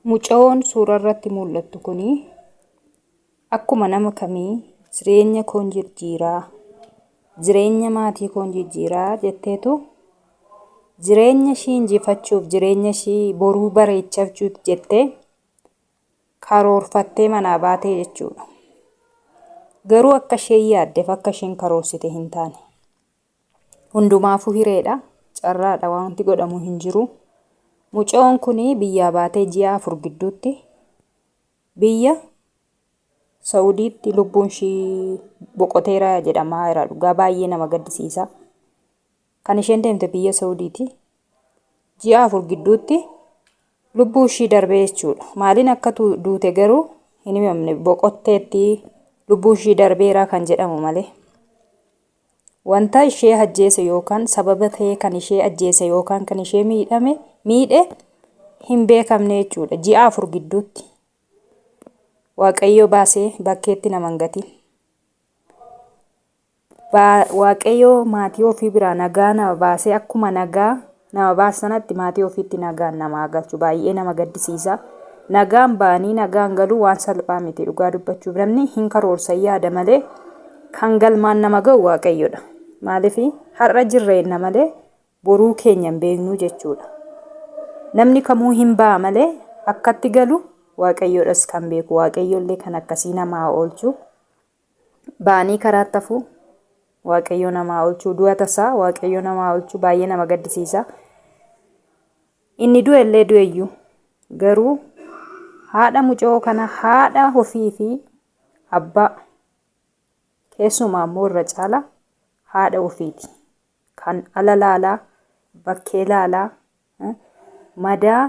Mucayoon suuraa irratti mul'attu kun akkuma nama kamii jireenya koon jijjiiraa, jireenya maatii koon jijjiiraa jetteetu jireenya ishii injifachuuf, jireenya ishii boruu bareechachuuf jettee karoorfattee manaa baatee jechuudha. Garuu akka isheen yaaddeef akka isheen karoorsite hin taane. Hundumaafuu hireedha. Carraadha wanti godhamu hin jiru. Mucoon kun biyyaa baatee ji'a afur gidduutti biyya Sa'udiitti lubbuun ishii boqoteera jedhamaa jira. Dhugaa baay'ee nama gaddisiisa. Kan isheen deemte biyya Sa'udiiti. Ji'a afur gidduutti lubbuu ishii darbee jechuudha. Maaliin akka tu- duute garuu hin himamne boqotteetti lubbuu ishii darbeera kan jedhamu malee. Wanta ishee ajjeese yookaan sababa ta'ee kan ishee ajjeese yookaan kan ishee miidhame miidhe hin beekamne jechuudha. Ji'a afur gidduutti Waaqayyo baasee bakkeetti nama hin gatiin. Waaqayyo maatii ofii biraa nagaa nama baasee akkuma nagaa Nama baase sanatti maatii ofiitti nagaan nama haa galchu. Baay'ee nama gaddisiisa. Nagaan ba'anii nagaan galuu waan salphaa miti dhugaa dubbachuuf namni hin karoorsa yaada malee kan galmaan nama ga'u waaqayyodha. Maaliif har'a jirra jenna malee boruu keenya hin beeknu jechuudha. Namni kamuu hin ba'a malee akkatti galu waaqayyodhas kan beeku waaqayyollee kan akkasii nama haa oolchu. ba'anii karaatti hafuu waaqayyoo nama haa olchuu du'a tasaa waaqayyoo nama haa olchuu baay'ee nama gaddisiisa inni du'e illee du'eyyuu garuu haadha mucoo kana haadha ofii fi abbaa keessumaa immoo irra caala haadha ofiiti kan ala laalaa, bakkee laalaa, madaa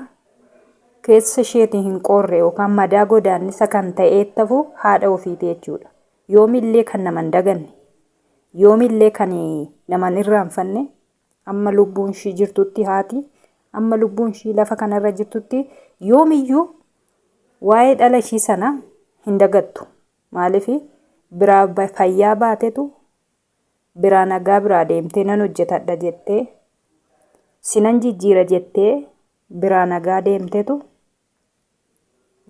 keessa isheetii hin qoorre yookaan madaa godaannisa kan ta'eettafu haadha ofiiti jechuudha. Yoomillee kan nama hin daganne, yoomillee kan nama hin irraanfanne, amma lubbuun ishii jirtutti haati, amma lubbuun ishii lafa kanarra jirtutti yoomiyyuu waa'ee dhala ishii sana hin dagattu. Maaliif biraa fayyaa baatetu biraa nagaa biraa deemtee nan hojjetadha jettee sinan jijjiira jettee biraa nagaa deemtetu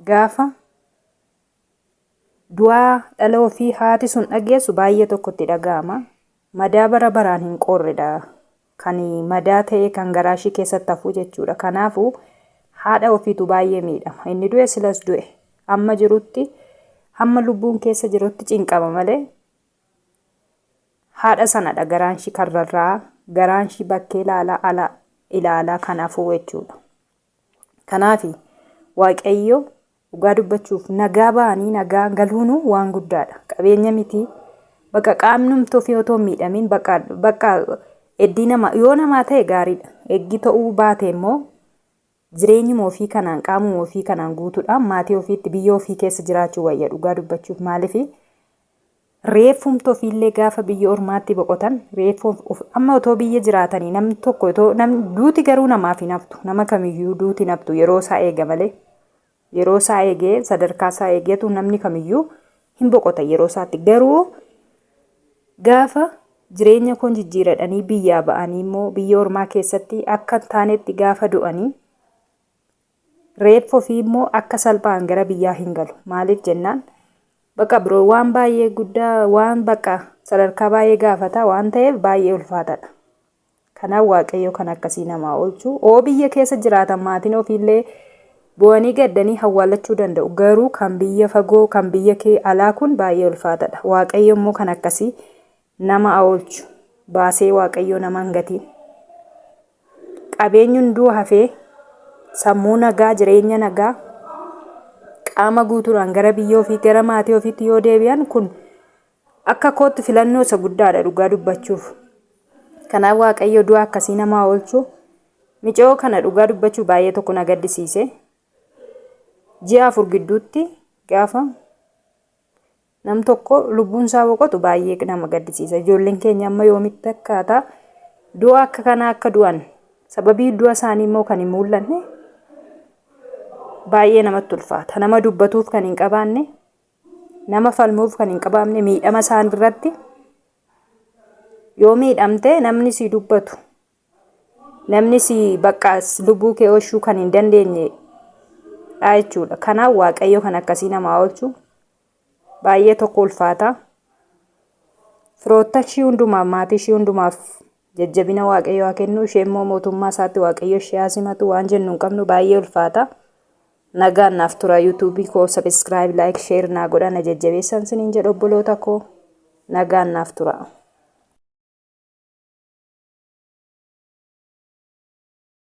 gaafa du'aa dhala ofii haati sun dhageessu baay'ee tokkotti dhaga'ama. Madaa bara baraan hin qoorredha. Kan madaa ta'ee kan garaa ishii keessatti hafu jechuudha. Kanaafuu haadha ofiitu baay'ee miidhama. Inni du'e silas du'e. Amma jirutti hamma lubbuun keessa jirutti cinqama malee Haadha sanadha garaanshi kan rarra'aa, garaanshi bakkee ilaalaa ala ilaalaa kan hafuu jechuudha. Kanaafi Waaqayyo dhugaa dubbachuuf nagaa ba'anii nagaa galuunu waan guddaadha. Qabeenya miti bakka qaamnumti ofii otoo hin miidhamiin bakka bakka eddii nama yoo namaa ta'e gaariidha. Eggii ta'uu baate immoo Jireenyuma ofii kanaan, qaamuma ofii kanaan guutuudhaan maatii ofiitti, biyya ofii keessa jiraachuu wayya dhugaa dubbachuuf. Maaliifi reeffumti ofiillee gaafa biyya ormaatti boqotan reeffa of amma otoo biyya jiraatanii namni tokko otoo namni duuti garuu namaaf hin haftu. Nama kamiyyuu duuti hin haftu yeroo isaa eega malee. Yeroo isaa eegee, sadarkaa isaa eegeetu namni kamiyyuu hin boqota yeroo isaatti. Garuu gaafa jireenya koon jijjiiradhanii biyyaa ba'anii immoo biyya ormaa keessatti akka hin taanetti gaafa du'anii reeffa ofii immoo akka salphaan gara biyyaa hin galu. Maaliif jennaan bakka biroo waan baay'ee guddaa waan bakka sadarkaa baay'ee gaafata waan ta'eef baay'ee ulfaataadha. Kanaa waaqayyoo kan akkasii namaa olchu oo biyya keessa jiraatan maatiin ofiillee bo'anii gaddanii hawwaallachuu danda'u garuu kan biyya fagoo kan biyya kee alaa kun baay'ee ulfaatadha waaqayyo immoo kan akkasii nama aolchu baasee waaqayyoo nama hin gatiin qabeenyi hunduu hafee sammuu nagaa jireenya nagaa qaama guutuudhaan gara biyya ofii gara maatii ofiitti yoo deebi'an kun Akka kootti filannoo isa guddaadha dhugaa dubbachuuf. Kanaaf Waaqayyo du'a akkasii namaa oolchu micoo kana dhugaa dubbachuu baay'ee tokko na gaddisiise. Ji'a afur gidduutti gaafa nam tokko lubbuun isaa boqotu baay'ee nama gaddisiisa. Ijoolleen keenya amma yoomitti akkaataa du'a akka kanaa akka du'an sababii du'a isaanii immoo kan hin mul'anne baay'ee namatti ulfaata. Nama dubbatuuf kan hin qabaanne Nama falmuuf kan hin qabaamne miidhama isaan irratti yoo miidhamte namni si dubbatu namni si bakka lubbuu kee oolchuu kan hin dandeenye dha jechuudha. Kanaaf waaqayyo kan akkasii namaa oolchu baay'ee tokko ulfaata. Firoottan ishii hundumaaf maatii ishii hundumaaf jajjabina waaqayyo haa kennu ishee immoo mootummaa isaatti waaqayyo ishee haa simatu waan jennu hin qabnu baay'ee ulfaata. Nagaan naaf turaa YouTube koo subscribe like share naa godhaa na jajjabeessan siniin jedha obboloota koo nagaan naaf turaa.